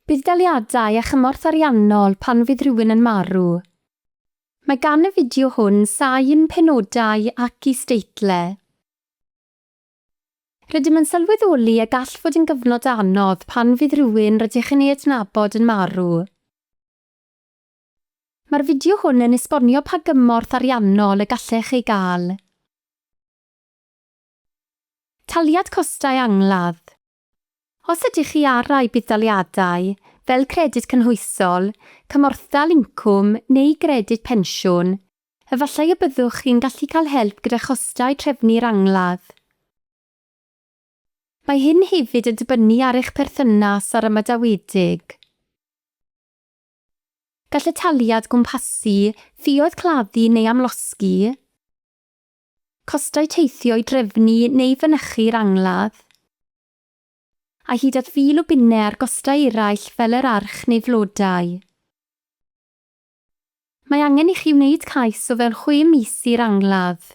Budd-daliadau a chymorth ariannol pan fydd rhywun yn marw. Mae gan y fideo hwn sain penodau ac isdeitlau. Rydym yn sylweddoli y gall fod yn gyfnod anodd pan fydd rhywun rydych yn ei adnabod yn marw. Mae'r fideo hwn yn esbonio pa gymorth ariannol y gallech ei gael. Taliad costau angladd. Os ydych chi ar rai budd-daliadau, fel Credyd Cynhwysol, Cymorthdal Incwm neu Gredyd Pensiwn, efallai y byddwch chi'n gallu cael help gyda chostau trefnu'r angladd. Mae hyn hefyd yn dibynnu ar eich perthynas â'r ymadawedig. Gall y taliad gwmpasu ffioedd claddu neu amlosgi. Costau teithio i drefnu neu fynychu'r angladd. A hyd at fil o bunnau ar gostau eraill fel yr arch neu flodau. Mae angen i chi wneud cais o fewn chwe mis i'r angladd.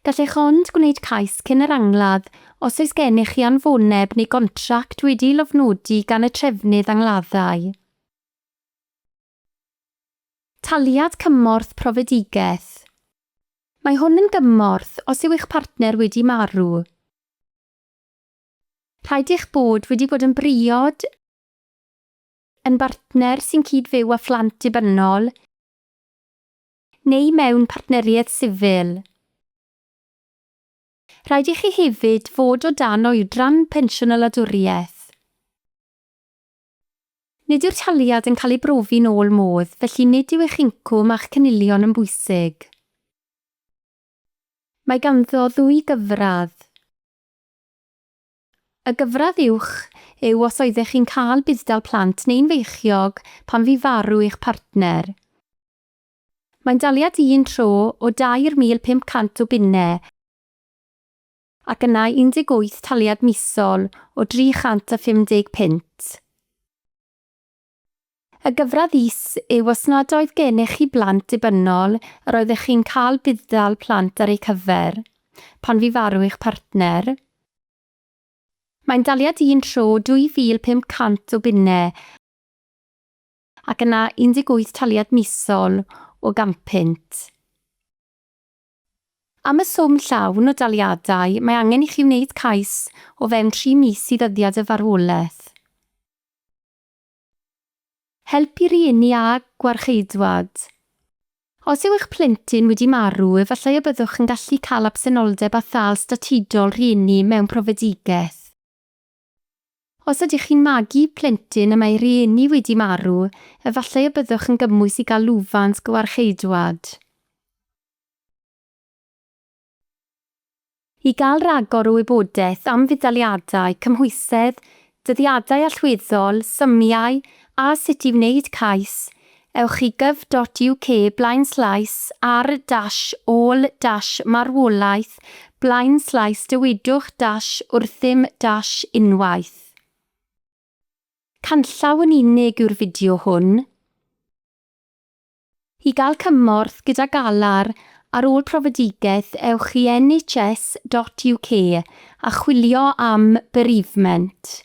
Gallech ond gwneud cais cyn yr angladd os oes gennych chi anfoneb neu gontract wedi'i lofnodi gan y trefnydd angladdau. Taliad Cymorth Profedigaeth Mae hwn yn gymorth os yw eich partner wedi marw. Rhaid eich bod wedi bod yn briod, yn bartner sy'n cyd-fyw â phlant dibynnol neu mewn partneriaeth sifil. Rhaid i chi hefyd fod o dan oedran pensiwn a wladwriaeth. Nid yw'r taliad yn cael ei brofi'n ôl modd, felly nid yw eich incwm a'ch cynilion yn bwysig. Mae ganddo ddwy gyfradd. Y gyfradd uwch yw os oeddech chi'n cael budd-dal plant neu'n feichiog pan fu farw eich partner. Mae'n daliad un tro o 2,500 o bunnau, ac yna 18 taliad misol o 350 punt. Y gyfradd is yw os nad oedd gennych chi blant dibynnol yr oeddech chi'n cael budd-dal plant ar eu cyfer, pan fu farw eich partner. Mae'n daliad un tro 2,500 o bunnau, ac yna 18 taliad misol o 100 punt. Am y swm llawn o daliadau, mae angen i chi wneud cais o fewn tri mis i ddyddiad y farwolaeth. Help i rieni a gwarcheidwad. Os yw eich plentyn wedi marw, efallai y byddwch yn gallu cael absenoldeb a thâl statudol rhieni mewn profedigaeth. Os ydych chi'n magu plentyn y mae rhieni wedi marw, efallai y byddwch yn gymwys i gael lwfans gywarcheidwad. I gael rhagor o wybodaeth am fudd-daliadau, cymhwysedd, dyddiadau allweddol, symiau a sut i wneud cais, Ewch i gyf dot UK blaenslais ar dash ôl dash marwolaeth blaenslais dywedwch dash wrthym dash unwaith. Canllaw yn unig yw'r fideo hwn. I gael cymorth gyda galar ar ôl profedigaeth ewch i NHS dot UK a chwilio am bereavement.